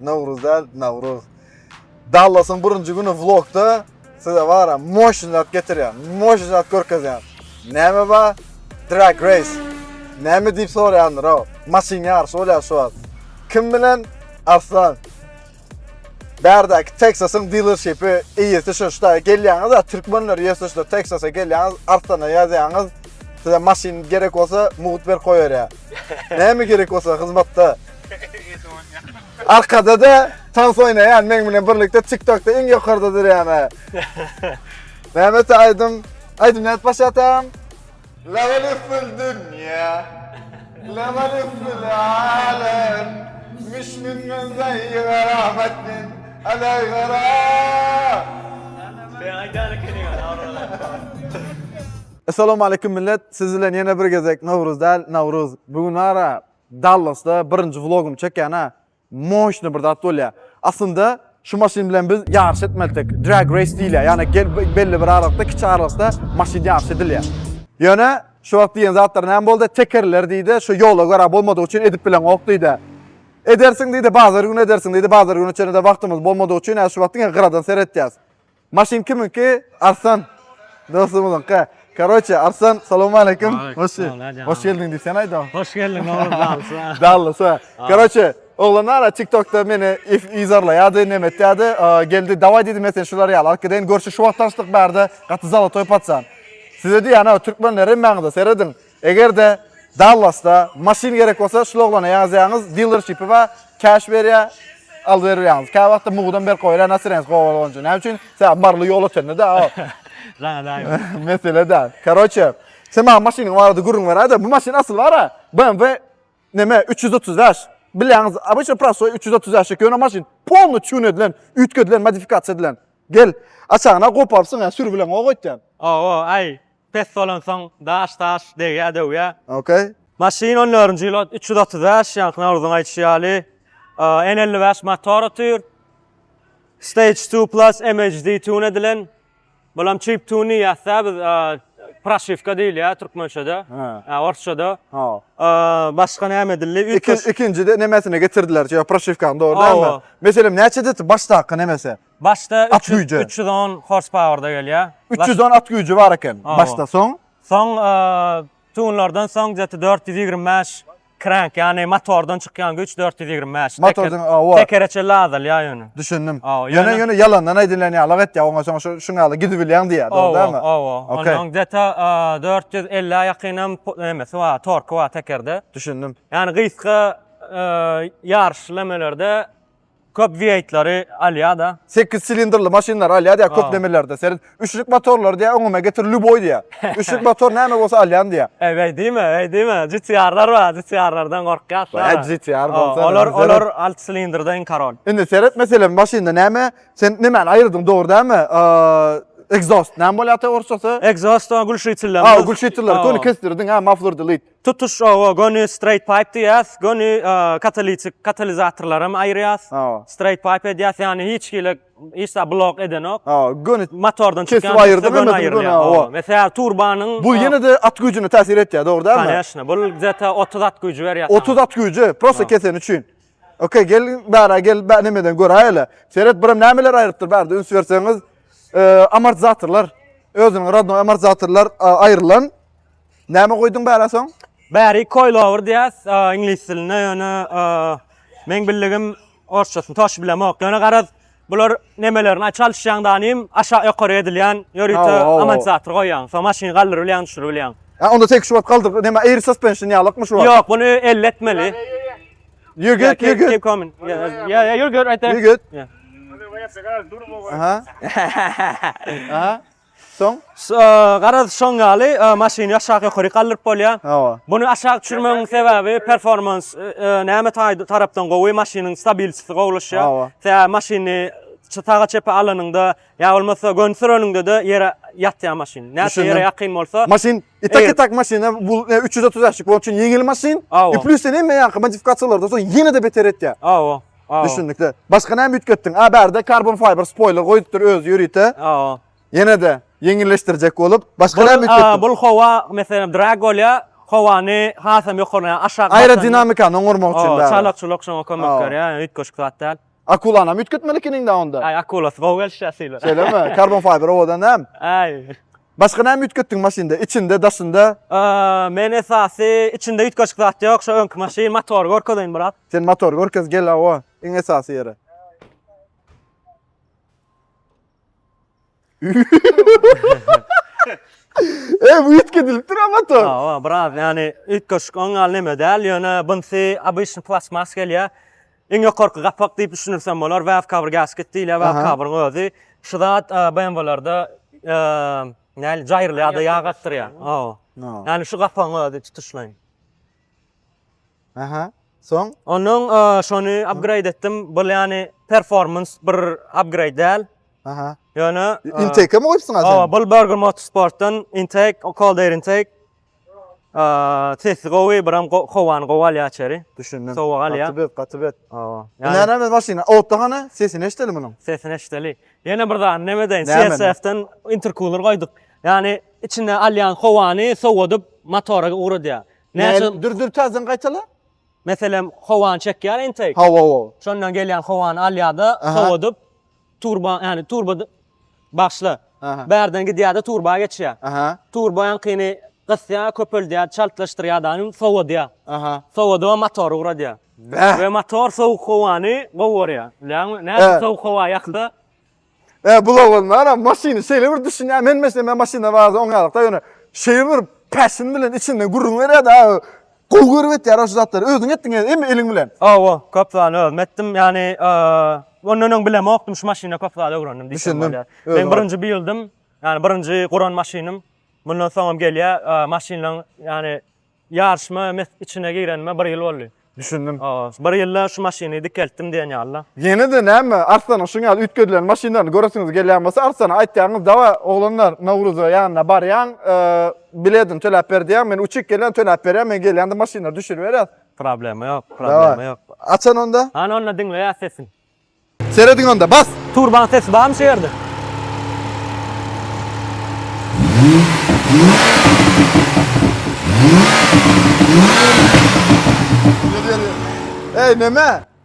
Nowruz däl, Nawruz. Dallasyň birinji güni vlogda size bara moşny zat getirýän, moşny zat görkezýän. Näme ba? Drag race. Näme diýip soraýandyr o. Maşyn ýaryşy bolýar şu wagt. Kim bilen? Arslan. Bärdäki Texasyň dealershipi eýesi şu şda gelýäňiz, türkmenler ýerse şu Texasa gelýäňiz, Arslana ýazýaňyz. Size maşyn gerek bolsa, mugt ber goýarýar. Näme gerek bolsa hyzmatda. Arkada da tans oýnaýan meň bilen birlikde TikTokda iň ýokarda durýan. Näme aýdym? Aýdym nädip başlatam? Lawal üfül dünýä. Lawal üfül alem. Müşmün gözleý garamatdin. Alay gara. Sen aýdýan ekeniň, awralar. Essalawmaleýkum millet, siz bilen ýene bir gezek Nowruz däl, Nawruz. Bu gün ara Dallasda birinji vlogumy çekýän-ä. Moşny bir zat bolýa. Aslynda şu maşyn bilen biz ýaryş etmelidik. Drag race diýilýä, ýagny gel belli bir aralykda, kiçi aralykda maşyn ýaryşy edilýä. Ýöne şu wagt diýen zatlar näme boldy? Tekerler diýdi, şu ýola görä bolmadygy üçin edip bileňok diýdi. Edersiň diýdi, bazar güni edersiň diýdi, bazar güni çenede wagtymyz bolmadygy üçin, hä şu wagt diňe gyradan seretýäs. Maşyn kiminki? Arslan. Dostumyzyňky. Karoçe, Arslan, salam aleýkum. Hoş geldiň. Hoş geldiň diýsen aýda. Hoş geldiň, oglan Dalsa. Dalsa. Karoçe, oglan ara TikTokda meni izarlaýardy, näme etýärdi. Geldi, dawaý diýdi, men seni şular ýaly alyp gideýin. Görşi şu wagt tanşdyk bärde, gaty zalotoý patsan. Size diýýän, türkmenler hemmäňiz-de serediň. Eger-de Dallasda maşyn gerek bolsa, şul oglana ýazýaňyz, dilerşipi bar, käş berýär, alyp berýäňiz. Kä wagtda mugudan berk goýarýar, nasyreňiz gowy bolgunça. Näme üçin? Sebäbi Marly ýol ötende-de. Saňa laýyk. Mesele däl. Karoçe, sen maňa maşynyň barada gürrüň beräý-de, bu maşyn asyl bar-a, BMW neme, üç ýüz otuz bäş. Bilýäňiz, obyçny prostoý üç ýüz otuz bäş, ýöne maşyn polny çun edilen, üýtgedilen, modifikasiýa edilen. Gel, aşagyny-a goparypsyň-a, sür bilen goý goýt diýen. Owo, aý, Pes bolansoň daş daş degýär döwýär. Ok. Maşyn on dördünji ýyl üç ýüz otuz bäş ýaňky Nawruzyň aýdyşy ýaly N elli bäş motor otyr. Stage two plus MHD tune edilen. Bulam çip tune diýýäsdä biz proşiwka diýilýär türkmençede. Ha. Orsçada. Ha. Başga näme edildi? Üç Ikin, ikinjide nemesini getirdiler. Ýa proşiwkany dogry dälmi? Meselem näçe deti başdaky nemesi? Başda üç ýüz on horspauerda gelýär. Üç ýüz on at güýji bar eken başda, soň? Soň tunlardan soň gdeti dört ýüz ýigrimi bäş krenk, ýagny motordan çykýan güýç dört ýüz ýigrimi bäş. Motordan, hawa. Tekere çenli azalýar ýöne. Düşündim. Ýöne, ýöne ýalandan aýdylýan ýalyk etýär, oňa soň şu şuň ýaly gidibilýäň diýýär, dogrudanmy? Hawa, hawa. Onuň gdeti dört ýüz elli ýakynam emesi bar, torky bar tekerde. Düşündim. Ýagny gysga ýaryşlemelerde Köp VIII-lary alýar-da. Sekiz silindrli maşynlary alýar diýýär köp nemelerde. Seret, üçlük motorlary diýýär öňüme getir lýuboý diýýär. Üçlük motor näme bolsa alýan diýýär. Eý, beý diýme, beý diýme. GTR-lar bar, GTR-lardan gorkýas. Beý, GTR bolsa. Olar, olar alty silindrda iň korol. Indi seret, meselem, maşynda näme? Sen nemäni aýyrdyň, dogry dälmi? Ekzost näme bolýar ata orsçasy? Ekzost, o gülşitillerimiz. Aw, gülşitiller, köni kesdirdiň-ä, maflordilit. Tutuş oba göni straight pipe diýýäs, göni katalitik katalizatorlaram aýyrýas. Straight pipe edýäs, ýagny hiç hili hiç zat blok edenok. Göni motordan çykýan aýyrdyk göni aýyrýar. Mesalan, turbanyň Bu ýene-de at güýjüne täsir etýär, dogry dälmi? Koneşne, bu zäta 30 at güýji berýär. 30 at güýji, prosta keseni üçin. Okey, gel bära gel, nämeden göräýeli. Seret, buram nämeler aýrypdyr, bärde üns berseňiz, amortizatorlar, özüniň rodnoý amortizatorlar aýrylan. Näme goýduň bära soň? Bäri coilover diýýäs, iňlis dilinde, ýöne meň bildigim orsçasyny toş bilemok. Ýöne garaz, bular nemelerini aç alşýaň da anym, aşak ýokary edilýän, ýörite amortizator goýýaň, soň maşyny galdyryp bilýäň, düşürip bilýäň. Hä, onda tek şu wagt galdyryp, näme air suspension ýalykmy şu wagt? Ýok, muny elli etmeli. Ýur git, ýur git. Ýa, ýa, ýur git, aýt. Ýur git. Aha. Aha. Soň garaz şoň ýaly maşyny ýaşak ýokaryk galdyryp bolýar. Hawa. Muny aşak düşürmegiň sebäbi performans näme tarapdan gowy, maşynyň stabilçisi gowlaşýar. Hawa. Sebäbi maşyny saga çepe alanyňda ýa bolmasa göni süreniňde-de ýere ýatýar maşyn. Näçe ýere ýakyn bolsa. Maşyn itak itak maşyna bu 330 sg bolan üçin ýeňil maşyn. Hawa. Plusden hemme ýaňky modifikasiýalardan soň ýene-de beter etýär. Hawa. Düşündikde. Başga näme üýtgetdiň? A bärde karbon fiber spoiler goýupdyr özi ýörite. Aa. Ýene-de ýeňilleşdirjek bolup, başga näme üýtgetdiň? Bul howa, meselem, drag bolýa, howany hasam ýokary, aşak. Aerodinamikany oňarmak üçin bäri. Çalakçylyk şoňa kömek berýä, ýa üýtgeşik zat däl. Akulany hem üýtgetmelikiniň-dä onda. Aý, akulasy gowy gelişýä sylar. Şeýlemi? Karbon fiber owadan hem. Aý. Başga näme üýtgetdiň maşynda, içinde, daşynda? Men esasy içinde üýtgeşik zat ýok, şo öňki maşyn, motory görkezeýin biraz. Sen motory görkez, gel hawa, iň esasy ýere. Eý, bu üýtgedilipdir a motor. Hawa, biraz ýani üýtgeşik oňňal neme däl, ýöne bunsy obyçny plastmas gelýär. Iň ýokarky gapak diýip düşünirsem bolar, Waf Cover Gasket diýilýär, Waf Aha. Cover-yň özi. Şu zat e, BMW-lerde e, näli jaýrylýar-da ýag akdyrýar. Hawa. No. Ýagny şu gapagyň özi tutuşlaýyn. Aha. Soň Onuň e, şony upgrade etdim. Bu ýagny performance bir upgrade däl. Aha. Ýöne e, intake mi goýupsyň Hawa, azan? bu Burger Motorsportdan intake, cold air intake. Sesi gowy, biram howany gowy alýar içeri. Düşündim. Sowuk alýar. Gaty bet, gaty bet. Hawa. Näme men maşyna? Otda hany? Sesini eşideli munuň. Sesini eşideli. Ýene bir zat näme edeýin? CSF-den interkuler goýduk. Ýani içine alýan howany sowadyp motora ugradýar. Näçe? Dur, dur, täzeden gaýtala. Meselem, howany çekýär intake. Hawa, hawa. Şondan gelýän howany alýar-da, sowadyp Turba, yani turba başla. Bärden gidýär-de turba geçýär. Turba ýaňkyny gysýar, köpeldýär, çaltlaşdyrýar daýym, sowadýar. Sowadyp motor ugradýar. We motor sowuk howany gowy görýär. Bilýäňmi? Nädip sowuk howa ýaksa? E, bula bolmara, maşyny şeýle bir düşünýär. Men meselem, men maşynda barada oňýalykda ýöne şeýle bir päşin bilen içinden gürrüň berýär-de, Gowy görüp etýär şu zatlary. Özüň etdiň ýa emmi eliň bilen? Hawa, köp zat özüm etdim. Ýagny, ondan öň bilemokdym, şu maşyna köp zat öwrendim diýsem bolýar. Meň birinji build'im, ýagny birinji guran maşynym. Mundan soňam gelýär. Maşynlaryň, ýagny ýaryşma içine girenime bir ýyl boldy. Düşündim. Hawa, bir ýylda şu maşyny dikeltdim diýen ýaly-la. Ýene-de näme, Arslanyň şuň ýaly üýtgedilen maşynlaryny göresiňiz gelýän bolsa, Arslana aýtýaňyz, Dawa, oglanlar, Nowruza ýanyna barýaň, Biledini töläp ber diýýäň, men uçup gelýän, töläp berýän, men gelýände maşynlary düşüriberýäs. Problema ýok, problema ýok. Açan onda. Hany onda diňleýäs sesin. Serediň onda, bas! Turbaň sesi barmy şu ýerde? Ýeri ýeri. Eý neme?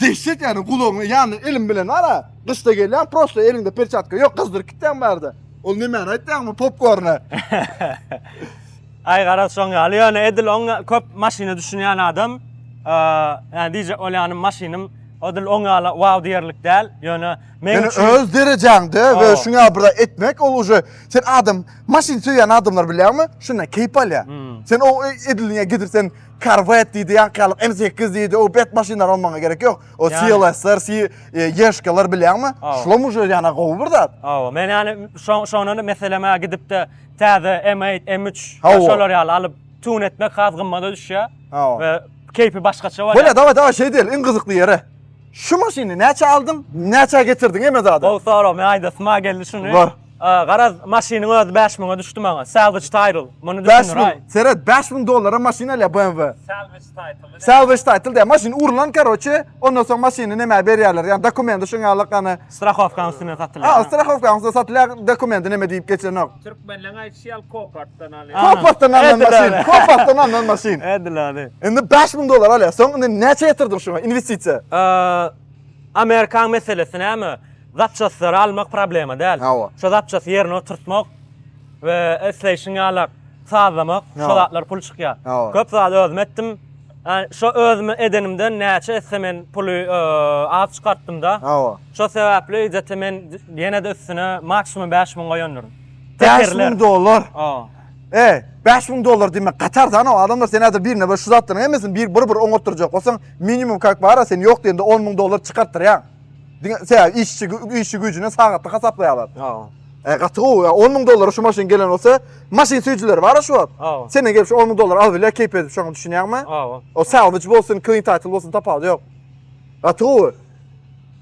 Dehşet yani gulagyňa ýanyna elim bilen bara gyşda gelýäň prosto eliňde perçatka ýok gyzdyryp gitýäň barda. Ol nemäni aýtýaňmy popkorny. Aý garaz şoň ýaly ýöne edil oň köp maşyna düşünýän adam yani diýjek bolýanym maşynym edil oň ýaly wow diýerlik däl ýöne meň üçin Ýöne öz derejaňde we şuň ýaly bir etmek ol uje sen adam maşyn söýýän adamlar bilýäňmi şundan keýp alýar. Sen o ediliňe gidip sen Corvette diýdi, ýaňkyýalyk M8 diýdi, o bet maşynlar on maňa gerek ýok. O Ýa. CLS-ler, C, e, Ýeşkalar bilýäňmi? Aw. Şulam uje ýana gowy bir zat. Awa, men ýani şo- şondan meseleme gidip-de täze M8, M3 Hawa. we şolar ýaly alyp tune etmek has gymmada düşýär Hawa. we keýpi başgaça bolýar. Bolýar, dawa dawa şeý diýeli, iň gyzykly ýeri. Şu maşyny näçä aldyň, näçä getirdiň eme zada? Gowy sorag, men aýdasym ha geldi şuny. Bar. Garaz, maşynyň özi bäş müňe düşdi maňa. Salvage title. Muny düşündiraý. Seret, bäş müň dollara maşyn alýar BMW. Salvage title. Salvage title diýýär. Maşyn urlan, karoçe, ondan soň maşyny nämä berýärler? Ýa dokumenti şoň ýaly gany. Strahowkanyň üstünden satylýar. Ha, strahowkanyň üstünden satylýar, dokumenti neme diýip geçenok. Türkmenleriň aýdyşy ýaly kopatdan alýar. Kopatdan alnan maşyn. Kopatdan alnan maşyn. Edil ady. Indi bäş müň dollara alýar. Soň indi näçe ýatyrdyň şoňa, inwestisiýa? Amerikan meselesi näme? Zapçastylar almak problema däl. Hawa. Şo zapçasty ýerine oturtmak we isleýşiň ýalak sazlamak, Hawa. şo zatlar pul çykýar. Hawa. Köp zat özüm etdim. Ä, Şo özüm edenimden näçe etse men puly e, az çykartdym-da. Hawa. Şo sebäpli ejete men ýene-de üstüne maksimum bäş müň goýandyryn. Bäş müň Tekerler. dollar. Hawa. Eý, bäş müň dollar diýmek gatar-da, anau adamlar sen häzir birine bir şu zatlaryň hemmesini bir bir bir oňatdyrjak bolsaň, Minimum kak bara sen yok diýende 10 müň dollar çykartdyrýaň. Diňe se işçi işçi güýjüne sagatlyk hasaplaýarlar. Ha. E gaty gowy. 10 müň dollara şu maşyn gelen bolsa, maşyn süýjüleri bar şu wagt. Ha. Senden gelip şu 10 müň dollar alyp bilýär keýp edip şoňa düşünýäňmi? Ha. O salvage bolsun, clean title bolsun tapawudy ýok. Gaty gowy.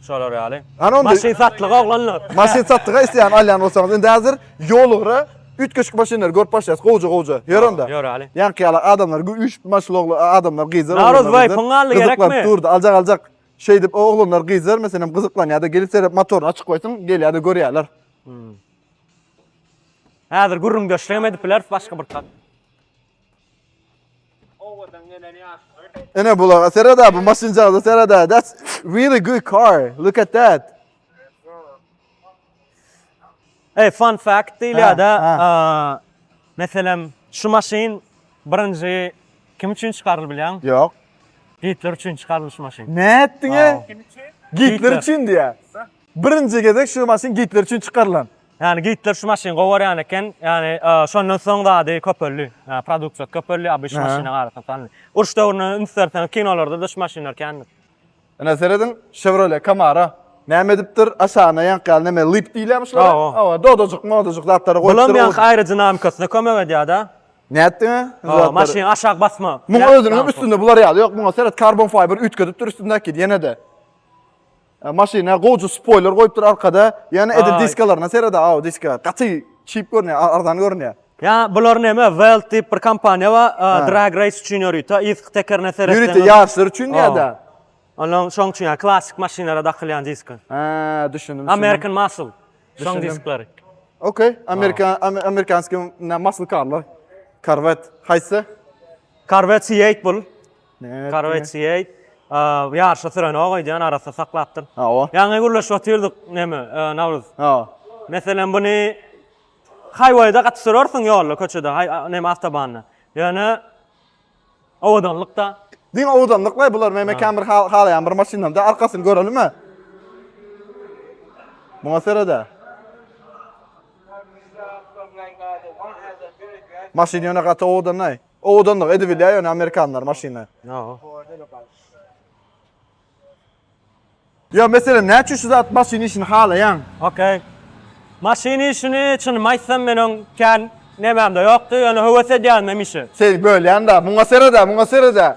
Şolar ýaly. Maşyn satlyga oglanlar. Maşyn satlyga isleýän alýan bolsaňyz indi häzir Ýollara üýtgeşik maşynlary görüp başlaýas, gowja-gowja. Ýör onda. Ýöräli. Ýaňky ýaly adamlar gü üýşüp maşly ogly adamlar gyzlar oglanlar. Nawruz baý, gyzlar pyň galdy, gerekmi? Gyzyklanp durdy, aljak aljak. Şeýdip o oglanlar gyzlar meselem gyzyklanýar-da gelip serep motoryny açyk goýsaň gelýär-de görýärler. Häzir gürrüňdeşligem edip bileris başga bir kat. Owadan gelen ýaşlar. Ene bulaga sereda bu maşynjagaza sereda. That's really good car. Look at that. Hey, fun fact diýilýär-de, meselem, şu maşyn birinji kim üçin çykarylyp bilýäň? Ýok. Gitler üçin çykarylyp şu maşyn. Nätdiňe? Kim üçin? Gitler üçin diýýär. Birinji gezek şu maşyn gitler üçin çykarylan. Ýani gitler şu maşyny gowy görýän eken. Ýani şondan soň zady köpeldi. Produksiýasy köpeldi abyş maşyna garasan. Uruş döwrüne üns berseň kinolarda-da şu maşynlar kändir. Ine serediň Chevrolet Camaro näme edipdir aşagyna ýaňky ýaly näme lyp diýilýärmi şulara? Hawa dodajyk modajyk zatlary goýupdyr. Bulam ýaňky aerodinamikasyna kömek edýärda. Nätdiň a? Hawa maşyn aşak basma. Muň özüniň üstünde bular ýaly ýok muňa seret karbon fiber üýtgedipdir üstündäki ýenede. Maşyna gowja spoýler goýupdyr arkada. Ýene ede diskalaryna serede, aw diska. Gaty çip görünýär, arzan görünýär. Ýa bular näme Welt diýip bir kompaniýa bar, drag race üçin ýörite, yzky tekerine seretseň. Ýörite ýaryşlar üçin ýa-da. Onuň şoň üçin ýa klassyk maşynlara dakylýan diska. Hä, düşündim. American Muscle. Şoň disklary. Ok, Amerika, Amerikanskiý muscle karlar. Corvette haýsy? Corvette C8 bul. Korwetýe ýaryşa sürenok öýdýän arassa saklapdyr. Hawa. Ýaňy gürleşip otyrdyk neme Nawruz. Hawa. Meselem buny haýwaýda gaty sürersiň ýolda köçede haý neme awtobanda. Ýöne owadanlykda. Diňe owadanlyk we bular men mekan bir halaýan bir maşynamda arkasyny görelime. Muňa serede. Maşyn ýöne gaty owadanlaý. Owadanlyk edip bilýär ýöne amerikanlar maşyny. Ýa meselem näçe şu zat maşyn işini halaýaň? Okey. Maşyn işini çynymy aýtsam men oň kän nämemde ýokdy ýöne höwes edýärin hem işe. Seni bölýän-da. Muňa seret-ä, muňa seret-ä.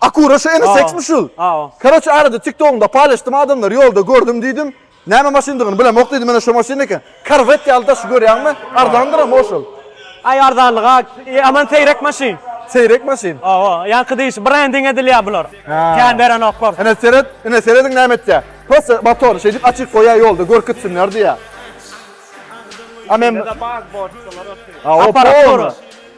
Akura şu ene seksmi şul. Karoçe arada tiktogyňda paýlaşdym adamlary ýolda gördüm diýdim. Näme maşyndygyny bilemok diýdim ene şu maşyn eken. Korwet ýaly daşy görýäňmi? Arzandyram ho şol. Aý arzanlygy a aman seýrek maşyn. Seýrek maşyn. Hawa, ýaňky diýşi brending edilýär bular. Kän berenoklar. Ene seret, ene serediň näme etýär. Prosta motory şeýdip açyk goýýar ýolda görkütsinler diýýär. A men Aparat dur.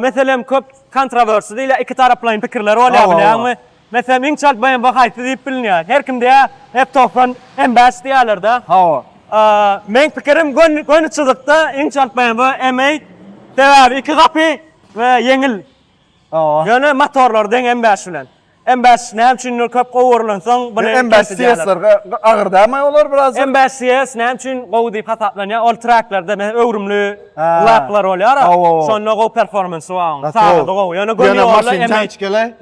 Meselem, köp kontrowersy diýilýär, ikitaraplaýyn pikirler bolýar bilýäňmi? Meselem, iň çalt BMW haýsy diýip bilinýär. Her kim diýýär, F-togsan, M-bäş diýýärler-de. Meň pikirim, göni çyzykda iň çalt BMW M-eight. Sebäbi iki gapy we ýeňil. Ýöne motorlary deň M-bäş bilen. MBS näme üçindir köp gowurlansoň buny kes edýärler. MBS SSR-ge agyrdamy olar biraz? MBS SSR näme üçin gowy diýip hasaplanýar? Ol treklarda meň öwrümli laplar bolýar. Şonda gowy performansy bar onuň. Sazyda gowy. Ýöne göni ýolda MH. Ýöne maşyn çkele.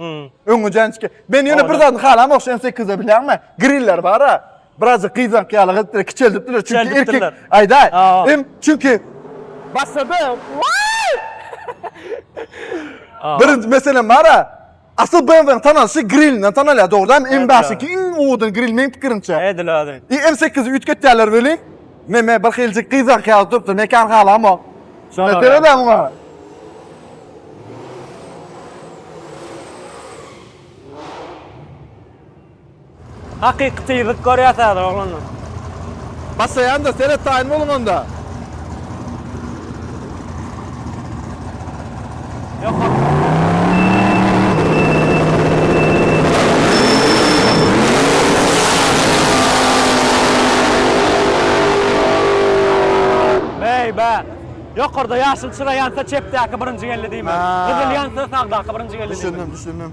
Öňi jançke. Men ýöne bir zadyny halam ox şn sekizde bilýäňmi? Griller bar-a. Birazjyk gyzank ýaly gyzykdyr. Kiçeldipdiler çünki erkek. Aýdaý. Em çünki. Başladym. Birinji meselem bar-a. Asyl BMW-niň tanalyşy grilinden tanalýar, dogrydanam M daş iki iň owadan gril meň pikirimçe. Edil özü. I M sekizi üýtgetýärler welin, meme bir hiljik gyzark ýaly durupdyr, mekan halamok. Şoňa görä. Seredä muňa. Hakyky tyzlyk görýäs häzir oglanlar. Başlaýanda seret taýyn boluň onda. Ýokary. Beý be. Ýokarda ýaşyl çyra ýansa çepdäki birinji geldi diýmek. Gyzyl ýansa sagdaky birinji geldi diýmek. Düşündim, düşündim.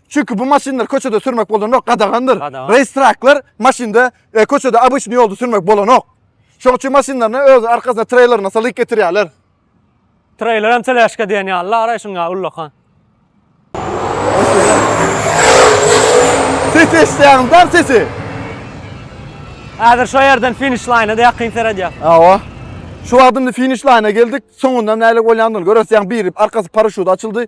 Çünki bu maşynlar köçede sürmek bolanok, gadagandyr. Gadagan. Reýstraklar maşynda e, köçede abyşny ýolda sürmek bolanok. Şoň üçin maşynlaryny öz arkasyna treylerine salyk getirýärler. Treyler hem telaşka diyen ya. Allah aray şun ya ullakan. Ses eşitýäňiz dar sesi. Hazır şu yerden finish line'a da yakın seredýär. Awa. Şu wagtymda finish line'a geldik. Soňundan näle bolýandygyny görersiň. Biri arkasy paraşut açyldy.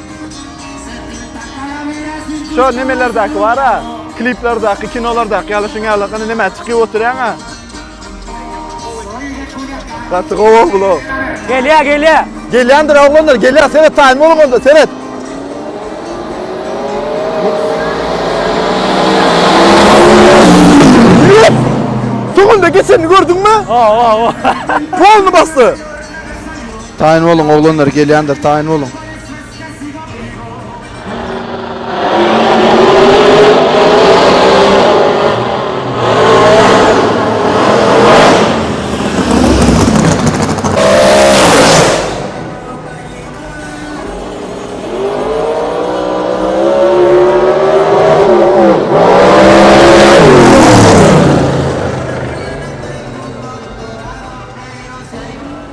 Şo nemelerdäki bara, kliplerdäki, kinolardäki ýaly şuň ýaly gana näme çykyp oturýaňa. Gaty gowy blo. Gelýä, gelýä. Gelýändir oglanlar, gelýä. Seret taýyn bol onda, seret. Tugunda geçenini gördüňmi? Hawa, hawa. Polny basdy. Taýyn boluň oglanlar gelýändir taýyn boluň.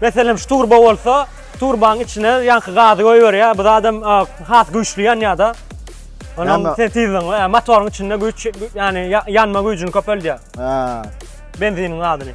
Meselem şu turba bolsa, turbanyň içine ýaňky gazy goýberýär. Bu zadam has güýçli ýanýar-da. Onuň sen tizligiň, motoryň içinde güýç, ýani ýanma güýjüni köpeldýär. Ha. Benziniň gazyny.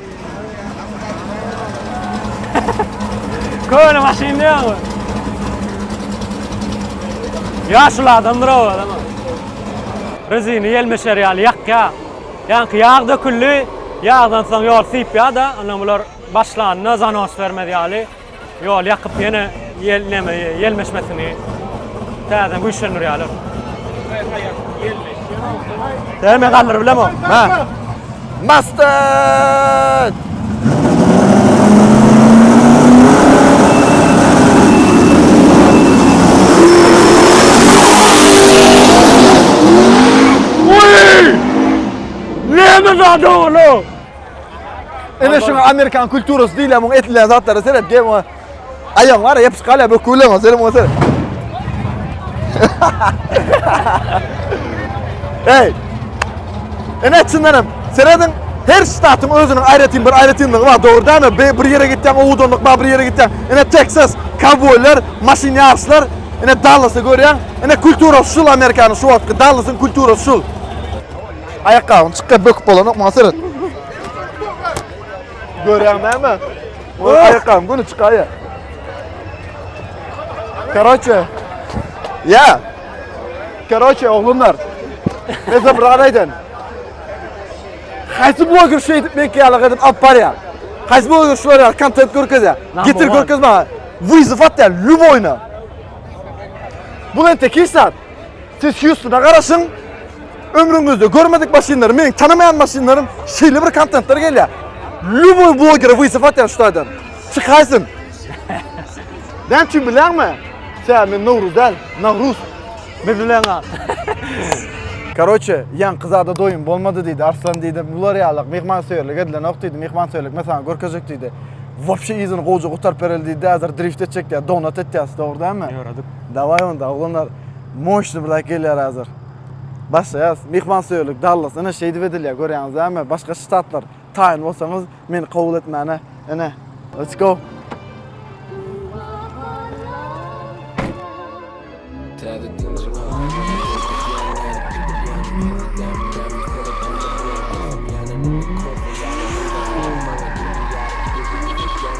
Köne maşyn diýýäňmi? Ýaşuly adamdyr o adam. Rezini ýelmeşer ýaly ýakýa. Ýaňky ýag döküldi. Ýagdan soň ýol sypýa-da, ondan bular başlanda zanos bermez ýaly. Ýol ýakyp ýene ýel näme ýel meşmesini täzeden güýçlendirýärler. Täme galdyryp bilemok. Ha. Mustang! Uy! Näme zat oglum? Ene şu Amerikan kulturasy diýilýär muň etlän zatlara seret gel muňa. Aýaň bar, ýapyş galýar bu kulan o seni muňa seret. Hey. Ene çyndanam serediň her ştatyň özüniň aýratyn bir aýratynlygy bar dogrudanmy? Bir ýere gitýän owudanlyk bar, bir ýere gitýän. Ene Texas kowboýlar, maşyn ýaryşlar, ene Dallasy görýän. Ene kulturasy şul Amerikanyň şu wagtky Dallasyň kulturasy şul. Aýakgabyň çykýar böküp bolanok maňa seret. Görýäň näme? Ol aýakgabyň göni çykaýa. Karoçe. Ya. Karoçe oglumlar. Mezem ranaýdan. Haýsy bloger şu edip men kiyala gadim alıp barya. Haýsy bloger şu barya kontent görkezya. Getir görkez bana. Vizif atya lüboyna. Bu ben tekil sat. Siz Hýustona garaşyň, ömrüňizde görmedik maşynlar, meniň tanamaýan maşynlarym şeýle bir kontentler gelýär. Lýuboý blogere wyzyp atýar şu taýdan. Çykaýsyn. Näme üçin bilýärmi? Tä men Nowruz däl, Nawruz. Bildileňa. Karoçe, ýaňky zada doýum bolmady diýdi, Arslan diýdi, bular ýaly myhmansöýerlik edilenok diýdi, myhmansöýerlik men saňa görkezjek diýdi. Wapşe yzyny gowja gutaryp bereli diýdi, häzir drift etjek diýýär, donat etýäs, dogry dälmi? Ýöredik. Daway onda oglanlar moşny blaýk gelýär hazir. Başlaýas. Myhman söýerlik Dallas ine şeýdip edilýär görýäňiz dämi başga ştatlar taýyn bolsaňyz meni kabul etmäne ine let's go.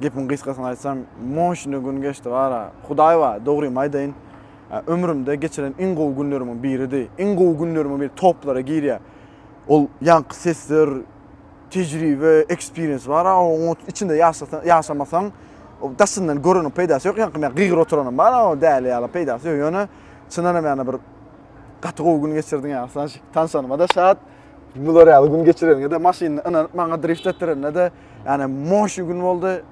Gepiň gysgasyny aýtsam, moşne gün geçdi gara. Hudaý bar, dogrymy aýdaýyn, ömrümde geçiren iň gowy günlerimiň biridi. Iň gowy günlerimiň biri toplara girýär. Ol ýaňky sesler, tejribe, ekspiriens bar-a, oň içinde ýaşasaň, ýaşamasaň, daşyndan göreniň peýdasy ýok. Ýaňky men gygyr oturanym bar-a, o däli ýaly peýdasy ýok. Ýöne çyndanam ýaly bir gaty gowy gün geçirdiň ýaly, Sanşik. Tanşanyma-da şat. Bular ýaly gün geçireniňe-de, maşynyny ynanyp maňa drift etdireniňe-de. Ýani moşy gün boldy.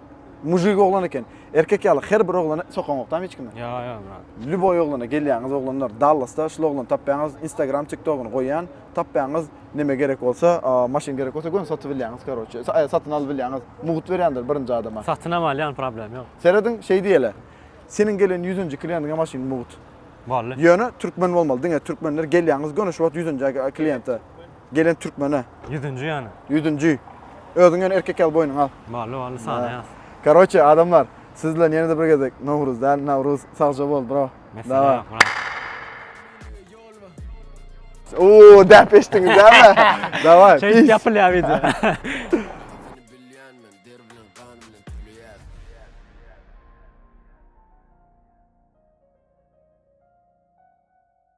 Mujik oglan eken. Erkek ýaly her bir oglany sokaňokdam hiç kimi. Ýa ýa brat. Lýuboý oglana gelýäňiz oglanlar. Dallasda şul oglany tapýaňyz. Instagram, TikTogyny goýýan. Tapýaňyz. Neme gerek bolsa, maşyn gerek bolsa göni satyp bilýäňiz karoçe. Satyn alyp bilýäňiz. Mugt berýändir birinji adama. Satynam alýan problem ýok. Serediň şeý diýeli. Seniň gelen ýüzünji kliýentiňe maşyn mugt. Bally. Ýöne türkmen bolmaly. Diňe türkmenler gelýäňiz göni şu wagt ýüzünji kliýente. Gelen türkmene. Ýüzünji ýany. Ýüzünji. Özüň ýöne erkek ýaly boýnuňy al. Bally bally sanaýas. Karoçe adamlar siz bilen ýene-de bir gezek Nowruz däl Nawruz sagja bol bro. Dawa. Uuu däp eşdiňiz däme. Dawa. Şeýdip ýapylýar wideo.